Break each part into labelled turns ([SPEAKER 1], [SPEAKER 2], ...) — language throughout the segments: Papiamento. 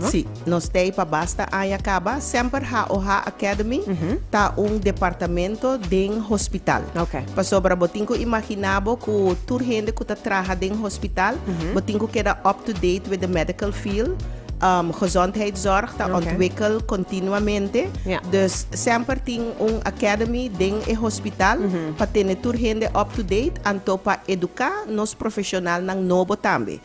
[SPEAKER 1] Sí, nos tei
[SPEAKER 2] pa basta aña kaba. Semper HOH Academy ta un departamento den hospital. Oké. Pasobra
[SPEAKER 1] bo tin ku
[SPEAKER 2] imaginá bo ku tur hende ku ta traha den hospital, bo tin ku keda up to date with the medical field. Gezondheidszorg ta ontwikkel kontinuamente. Ja. Dus
[SPEAKER 1] semper
[SPEAKER 2] tin un academy den e hospital pa tene tur hende up to date anto pa eduká nos profeshonalnan nobo tambe.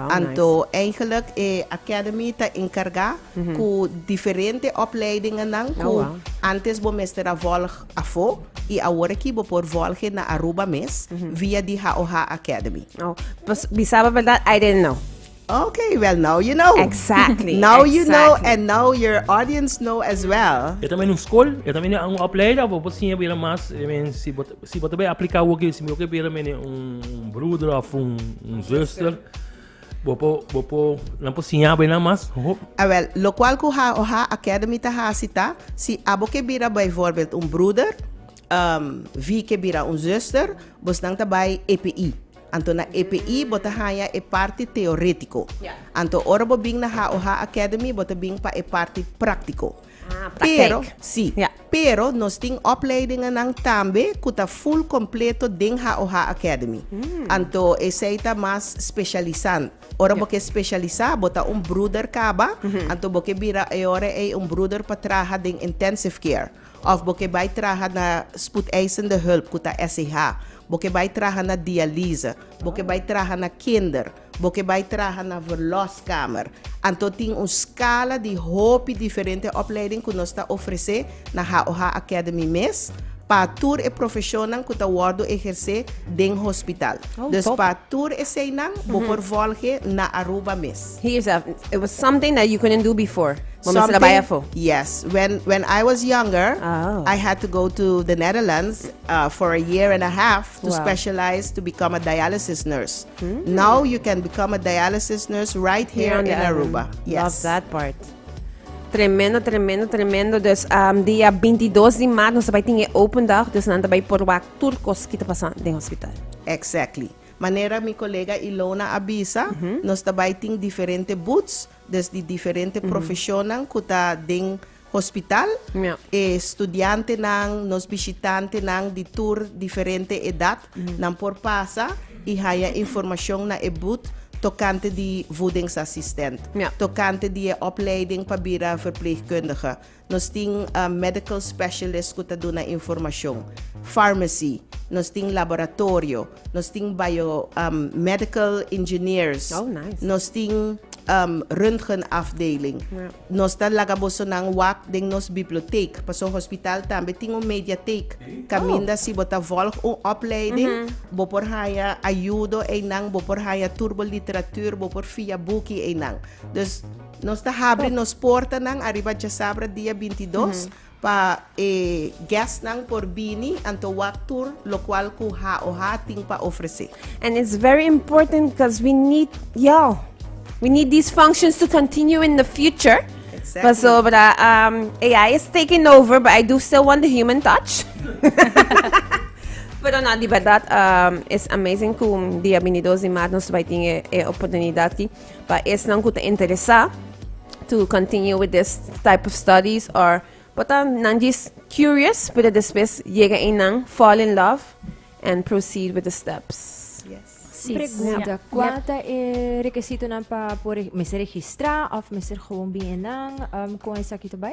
[SPEAKER 2] Anto
[SPEAKER 1] eigenlijk
[SPEAKER 2] e Academy ta encarga cu diferente opleidingennan cu antes
[SPEAKER 1] bo mester
[SPEAKER 2] a volg afo y awor aki bo por volge na Aruba mes via di HOH Academy. Pues
[SPEAKER 1] bisaba verdad I didn't know. Ok, well
[SPEAKER 2] now you know. Exactly. Now you
[SPEAKER 1] know
[SPEAKER 2] and now your audience know as well. E ta mester un school, e
[SPEAKER 3] ta mester un opleiding of bo por siña bira mas, I mean si bo ta. Si bo ta bai apliká awor ke si mi ke bira mene un bruder of un zuster, bo por bo por nan por siña bai nan mas. Awel, lokual
[SPEAKER 2] ku ha o ha Academy ta hasi ta si abo ke bira bijvoorbeeld un bruder, ehm, vi ke bira un zuster, bo snan ta bai EPI. Anto na EPI bo ta haña e parti teoretiko. Anto ora
[SPEAKER 1] bo bin na
[SPEAKER 2] ha o ha Academy bo ta bin pa e parti praktiko. Pero,
[SPEAKER 1] si. Pero
[SPEAKER 2] nos tin opleidingennan tambe ku ta ful kompleto den HOH Academy. Anto esei ta mas spesialisan. Ora bo ke spesialisá, bo ta un bruder kaba, anto bo ke bira e ora ei un bruder pa traha den intensive care. Òf bo ke bai traha na spoedeisende hulp, ku ta SIH. Bo ke bai traha na dialyse. Bo ke bai traha na kinder. Bo ke bai traha na Verloskamer? Anto tin un skala di hopi diferente opleiding ku nos ta ofresé na HOH Academy mes pa tur e profeshonnan ku ta wòrdu ehersé den hospital. Dus pa tur eseinan bo por vòlg'e na Aruba mes. Hear yourself, It was
[SPEAKER 1] something that you couldn't do before. Bo mester ta bai afo. Something,
[SPEAKER 2] yes. When when I was younger, Oh. I had to go to the Netherlands uh, for a year and a half to Wow. specialize to become a dialysis nurse. Now you can become a dialysis nurse right here in Aruba. Yes. Love that part.
[SPEAKER 1] Tremendo, tremendo, tremendo. Dus um, dia 22 di maart, nos bai tinge open dag, dus nan bai por wak tur kos kita pasan den hospital. Exactly.
[SPEAKER 2] Manera mi colega Ilona avisa, mm -hmm. nos bai ting diferente boots, dus di diferente mm -hmm. profesionan kuta den hospital, e studiantenan, nos bishitantenan di tur diferente edat, nan por pasa i haña informashon na e booth tokante di voedingsassistent, tokante di e opleiding pa bira verpleegkundige. Nos tin medical specialist ku ta duna informashon, farmacy, nos tin laboratorio, Nos tin bio um medical engineers. Oh, nice. Nos tin um röntgen afdeling. Ja. Nos ta laga bosonan wak den nos biblioteek. Paso hospital tambe tin un mediatheek. Caminda si bo ta volg un opleiding, bo por haya ayudo einan, bo por haya tur bo literatuur, bo por via buki einan. Dus nos ta habri nos portanan ariba Djasabra dia bintidos Pa e guestnan por bini, anto wak tur locual cu HOHA tin pa ofrece. And it's very
[SPEAKER 1] important because we need y'all. We need these functions to continue in the future. Exactly. Pasobra um, AI is taking over, but I do still want the human touch. Pero no, di verdad, um, is amazing cum dia 22 di maart nos vai tin e, e oportunidad ki. Pa esnan ku ta interesá to continue with this type of studies or por ta nan jis curious, pero despues yega einan fall in love and proceed with the steps. Sí, Pregunta,
[SPEAKER 4] cuál ta e requisitonan pa por e- mester registrá of mester gewoon bien nan um, con esaki erbij?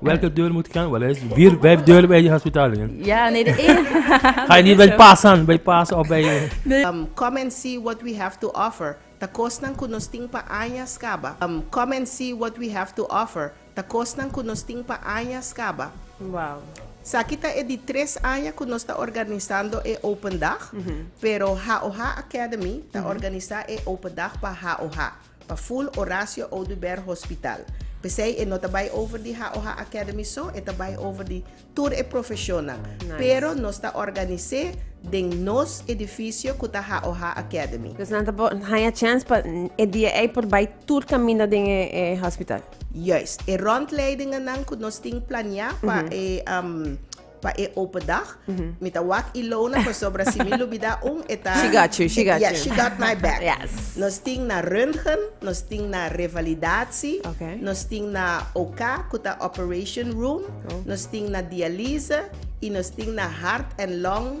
[SPEAKER 3] Welke deur
[SPEAKER 5] moet ik aan?
[SPEAKER 3] Wel, is vier, vijf deuren bij je hospitaal. hè? Ja, nee, de één.
[SPEAKER 5] Ga je niet bij
[SPEAKER 3] pasen, bij pasen of bij... eh, Um, come and see
[SPEAKER 2] what we have to offer. Ta kosnan ku nos tin pa aña skaba. Um, come and see what we have to offer. Ta kosnan ku nos tin pa aña skaba. Wow.
[SPEAKER 1] Saki ta
[SPEAKER 2] e di tres aña ku nos ta organisando e open dag, pero Haoha Academy ta organisa e open dag pa Haoha. Pa full Horacio Oduber Hospital. P'esei e no ta bai over di Haoha Academy so, e ta bai over di tur e profeshonnan. Pero nos
[SPEAKER 1] ta
[SPEAKER 2] organis'é den nos edifisio ku ta Haoha Academy. Dus nan ta por haña
[SPEAKER 1] chèns pa e dia ei por bai tur kaminda den e hospital. Juist. E
[SPEAKER 2] rondleidingannan ku nos tin planiá pa e. pa e open dag. Mi ta wak Ilona pasobra si mi lubida un e ta She got you, she got
[SPEAKER 1] yeah, you. she got my back.
[SPEAKER 2] Yes. Nos tin na röntgen, nos tin na revalidatie, Okay. nos tin
[SPEAKER 1] na
[SPEAKER 2] OK ku ta operation room, Oh. nos tin na dialyse i nos tin na hart en long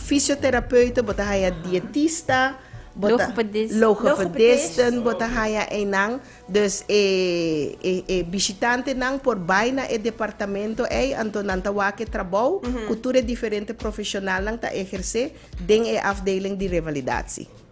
[SPEAKER 2] Fisioterapeuta, bo ta haya dietista, bo ta Logopedist.
[SPEAKER 5] logopedisten,
[SPEAKER 2] bo ta haya einan. Dus e e bishitantenan por bai na e departamento ei, anto nan ta wak e trabou ku tur e diferente profeshonalnan ta ehersé den e afdeling di revalidatie.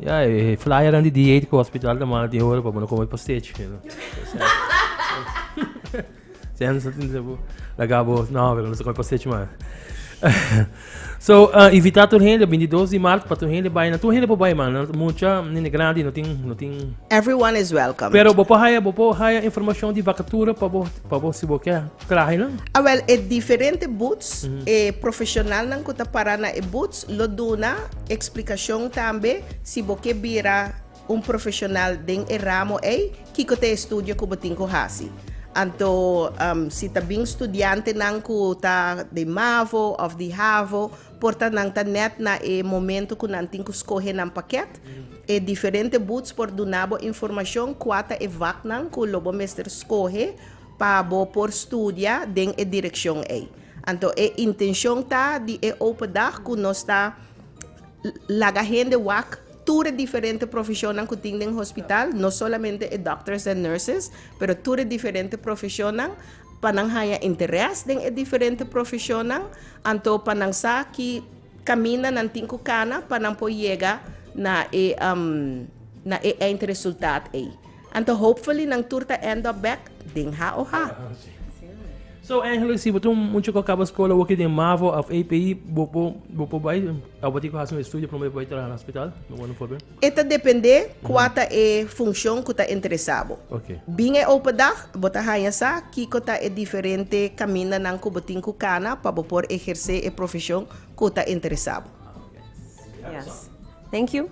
[SPEAKER 3] Ya, e flyernan di dieet ku hospital ta manda tin hora pa bo no kome postage. You know? Sen sa tin sebu. Laga bo, no, pero no sa kome postage man. so, uh, invita tur hende, 22 di maart, pa tur hende bai. Na tur hende po bai, man. Mucha, nene grandi, no tin, no tin. Everyone is welcome.
[SPEAKER 2] Pero bo po haya, bo po
[SPEAKER 3] haya informacion di vacatura pa bo, pa bo si bo ke trahe nan. Ah, well, e diferente
[SPEAKER 2] boots, mm -hmm. e profesionalnan ku ta para na e boots, Lo duna explicacion tambe si bo ke bira un profesional den e ramo ey, kiko ta e estudio cu bo tin cu haci. Anto si ta bin studiantenan cu ta di mavo of di havo, por ta nan ta net na e momento cu nan tin cu scohe nan paket. E diferente booths por duna bo informacion cua ta e vaknan cu lo bo mester scohe pa bo por studia den e direccion ey. Anto e intencion ta di e open dag cu nos ta laga hende wak tur e diferente profecionnan cu tin den hospital, no solamente e doctors en nurses, pero tur e diferente profecionnan pa nan haya interes den e diferente profecionnan, anto pa nan sa ki caminda nan tin cu cana pa nan por yega na e na e eind resultat ey. Anto hopefully nan tur ta end up back den ha o ha.
[SPEAKER 3] So Angelo si bo ta un mucha cu a caba scola wokey den mavo of APE bo por bo por bay awor tin cu haci un estudio prome bo bay traha na hospital no word no forbay. E ta depende
[SPEAKER 2] cua ta e funcion cu ta interesa bo. Ok. Bin e
[SPEAKER 3] open dag
[SPEAKER 2] bo ta haña sa kico ta e diferente camindanan cu bo tin cu cana pa bo por eherce e profesion cu ta interesa bo.
[SPEAKER 1] Yes. Thank you.